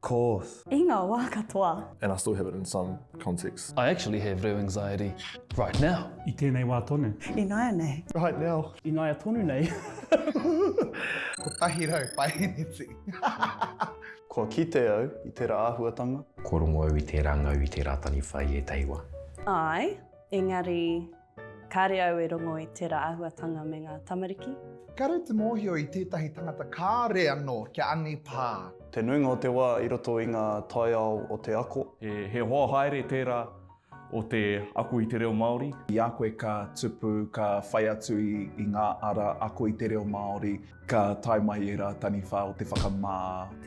course. I nga wa katoa. And I still have it in some contexts. I actually have reo anxiety right now. I tēnei wā tonu. Ināianei. Right now. Ināia tonu nei. Kotahi rau paeneti. Kua kite au i tera ahuatanga. Kua rongo au i tera ngau i tera taniwha i etahi wa. Ae, engari. Kāre au e rongo i tērā āhuatanga me ngā tamariki. Kāre te mōhio i tētahi tangata kāre anō kia angi pā. Te nuinga o te wā i roto i ngā taiao o te ako. He hoa haere tērā o te ako i te reo Māori. I a koe ka tupu, ka whai atu i ngā ara ako i te reo Māori. Ka tae mai ērā taniwha o te whakamā.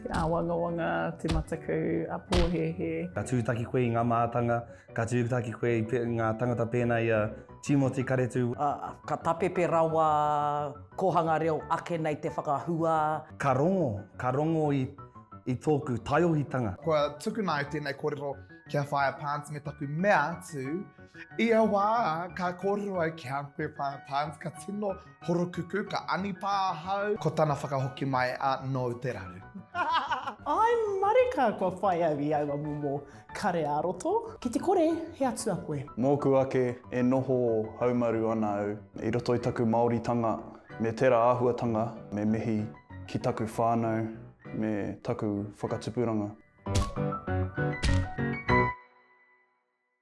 Te āwangawanga, te mataku a pōhēhē. Ka tūtaki koe i ngā mātanga. Ka tūtaki koe i ngā tangata pēnā i a Tīmoti Karetū. Ka tapepe rawa kōhanga reo ake nei te whakahua. Ka rongo, ka rongo i tōku taiohitanga. Kua tukuna ai tēnei kōrero ki a Whaea Parnes me taku mea atu, ia wā ka kōrero ai ki a Whaea Parnes ka tino Horokuku, ka anipā ahau. Ko tana whakahoki mai a No te raru. Ai marika kua whai au i aua momo kare a roto. Ki te kore he atua koe. Mōku ake e noho haumaru ana au i roto i taku Māoritanga me tera āhuatanga me mihi ki taku whānau me taku whakatupuranga.